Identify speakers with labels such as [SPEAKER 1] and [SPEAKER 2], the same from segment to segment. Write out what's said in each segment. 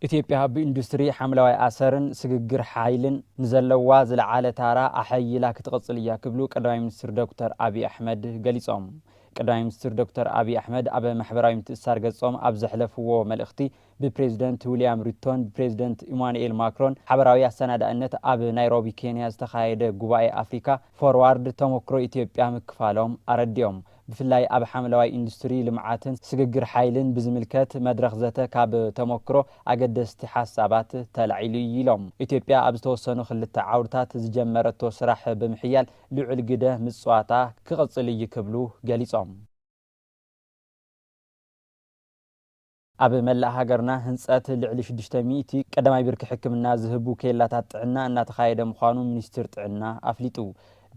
[SPEAKER 1] ኢትዮጵያ ብኢንዱስትሪ ሓምለዋይ ኣሰርን ስግግር ሓይልን ንዘለዋ ዝለዓለ ታራ ኣሐይላ ክትቕፅል እያ ክብሉ ቀዳማይ ሚኒስትር ዶክተር ኣቢይ ኣሕመድ ገሊፆም። ቀዳማይ ሚኒስትር ዶክተር ኣቢይ ኣሕመድ ኣብ ማሕበራዊ ምትእስሳር ገፆም ኣብ ዘሕለፍዎ መልእኽቲ ብፕሬዚደንት ዊልያም ሩቶን ብፕሬዚደንት ኢማኑኤል ማክሮን ሓበራዊ ኣሰናዳእነት ኣብ ናይሮቢ ኬንያ ዝተኻየደ ጉባኤ ኣፍሪካ ፎርዋርድ ተሞክሮ ኢትዮጵያ ምክፋሎም ኣረዲኦም። ብፍላይ ኣብ ሓምለዋይ ኢንዱስትሪ ልምዓትን ስግግር ሓይልን ብዝምልከት መድረኽ ዘተ ካብ ተሞክሮ ኣገደስቲ ሓሳባት ተላዒሉ ኢዩ ኢሎም። ኢትዮጵያ ኣብ ዝተወሰኑ ክልተ ዓውድታት ዝጀመረቶ ስራሕ ብምሕያል ልዑል ግደ ምፅዋታ ክቕፅል ኢዩ ክብሉ ገሊፆም። ኣብ መላእ ሃገርና ህንፀት ልዕሊ ሽዱሽተ ሚእቲ ቀዳማይ ብርኪ ሕክምና ዝህቡ ኬላታት ጥዕና እናተኻየደ ምዃኑ ሚኒስቴር ጥዕና ኣፍሊጡ።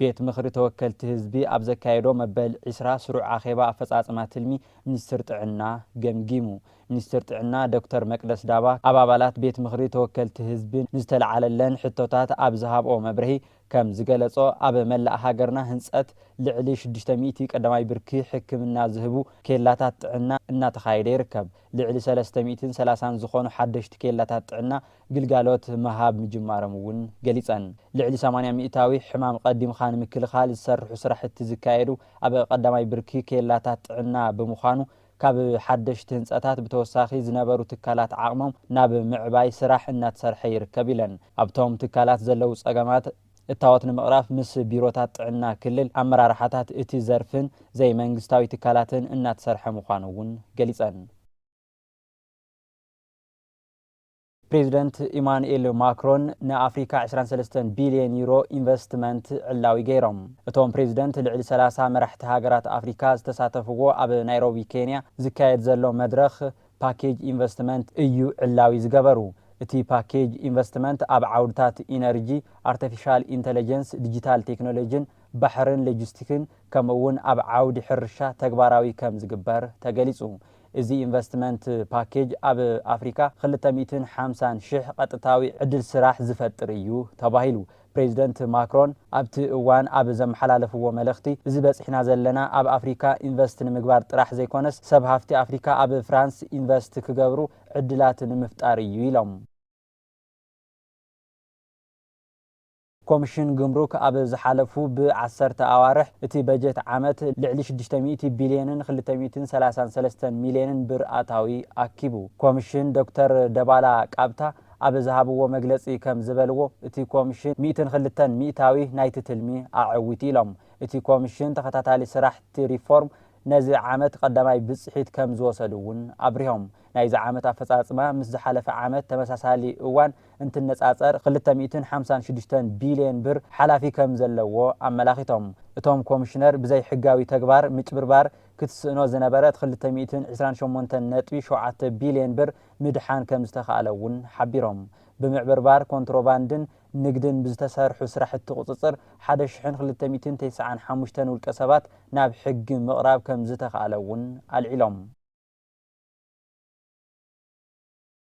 [SPEAKER 1] ቤት ምኽሪ ተወከልቲ ህዝቢ ኣብ ዘካየዶ መበል ዕስራ ስሩዕ ኣኼባ ኣፈፃፅማ ትልሚ ሚኒስቴር ጥዕና ገምጊሙ። ሚኒስትር ጥዕና ዶክተር መቅደስ ዳባ ኣብ ኣባላት ቤት ምኽሪ ተወከልቲ ህዝቢ ንዝተልዓለለን ሕቶታት ኣብ ዝሃብኦ መብርሂ፣ ከም ዝገለፆ ኣብ መላእ ሃገርና ህንፀት ልዕሊ ሽዱሽተ ሚእቲ ቀዳማይ ብርኪ ሕክምና ዝህቡ ኬላታት ጥዕና እናተኻየደ ይርከብ። ልዕሊ ሰለስተ ሚእትን ሰላሳን ዝኾኑ ሓደሽቲ ኬላታት ጥዕና ግልጋሎት ምሃብ ምጅማሮም እውን ገሊፀን። ልዕሊ ሰማንያ ሚእታዊ ሕማም ቐዲምኻ ንምክልኻል ዝሰርሑ ስራሕቲ ዝካየዱ ኣብ ቐዳማይ ብርኪ ኬላታት ጥዕና ብምዃኑ ካብ ሓደሽቲ ህንፀታት ብተወሳኺ ዝነበሩ ትካላት ዓቕሞም ናብ ምዕባይ ስራሕ እናተሰርሐ ይርከብ ኢለን። ኣብቶም ትካላት ዘለዉ ፀገማት እታወት ንምቕራፍ ምስ ቢሮታት ጥዕና ክልል፣ ኣመራርሓታት እቲ ዘርፍን ዘይመንግስታዊ ትካላትን እናተሰርሐ ምዃኑ እውን ገሊፀን። ፕሬዚደንት ኢማኑኤል ማክሮን ንኣፍሪካ ዕስራን ሰለስተን ቢሊየን ዩሮ ኢንቨስትመንት ዕላዊ ገይሮም። እቶም ፕሬዚደንት ልዕሊ ሰላሳ መራሕቲ ሃገራት ኣፍሪካ ዝተሳተፍዎ ኣብ ናይሮቢ ኬንያ ዝካየድ ዘሎ መድረኽ ፓኬጅ ኢንቨስትመንት እዩ ዕላዊ ዝገበሩ። እቲ ፓኬጅ ኢንቨስትመንት ኣብ ዓውድታት ኢነርጂ፣ ኣርተፊሻል ኢንተለጀንስ፣ ዲጂታል ቴክኖሎጂን ባሕርን ሎጂስቲክን ከምኡ እውን ኣብ ዓውዲ ሕርሻ ተግባራዊ ከምዝግበር ተገሊፁ። እዚ ኢንቨስትመንት ፓኬጅ ኣብ ኣፍሪካ ክልተ ሚእትን ሓምሳን ሽሕ ቐጥታዊ ዕድል ስራሕ ዝፈጥር እዩ ተባሂሉ። ፕሬዚደንት ማክሮን ኣብቲ እዋን ኣብ ዘመሓላለፍዎ መልእኽቲ፣ እዚ በፂሕና ዘለና ኣብ ኣፍሪካ ኢንቨስት ንምግባር ጥራሕ ዘይኮነስ ሰብ ሃፍቲ ኣፍሪካ ኣብ ፍራንስ ኢንቨስት ክገብሩ ዕድላት ንምፍጣር እዩ ኢሎም። ኮምሽን ግምሩክ ኣብ ዝሓለፉ ብ ዓሰርተ ኣዋርሕ እቲ በጀት ዓመት ልዕሊ ሽዱሽተ ሚእቲ ቢልየንን ክልተ ሚእትን ሰላሳን ሰለስተን ሚልየንን ብር ኣታዊ ኣኪቡ። ኮምሽን ዶክተር ደባላ ቃብታ ኣብ ዝሃብዎ መግለፂ ከም ዝበልዎ እቲ ኮምሽን ሚእትን ክልተን ሚእታዊ ናይቲ ትልሚ ኣዐዊቱ ኢሎም። እቲ ኮምሽን ተኸታታሊ ስራሕቲ ሪፎርም ነዚ ዓመት ቐዳማይ ብፅሒት ከም ዝወሰዱ እውን ኣብሪሆም። ናይዚ ዓመት ኣፈፃፅማ ምስ ዝሓለፈ ዓመት ተመሳሳሊ እዋን እንትነፃፀር ክልተ ሚእትን ሓምሳን ሽዱሽተን ቢሊየን ብር ሓላፊ ከም ዘለዎ ኣመላኺቶም። እቶም ኮሚሽነር ብዘይሕጋዊ ተግባር ምጭብርባር ክትስእኖ ዝነበረት ክልተ ሚእትን ዕስራን ሸሞንተን ነጥቢ ሸውዓተ ቢሊየን ብር ምድሓን ከም ዝተኽኣለ እውን ሓቢሮም። ብምዕብርባር ኮንትሮባንድን ንግድን ብዝተሰርሑ ስራሕቲ ቁፅፅር ሓደ ሽሕን ክልተ ሚእትን ተስዓን ሓሙሽተን ውልቀ ሰባት ናብ ሕጊ ምቕራብ ከም ዝተኽኣለ እውን ኣልዒሎም።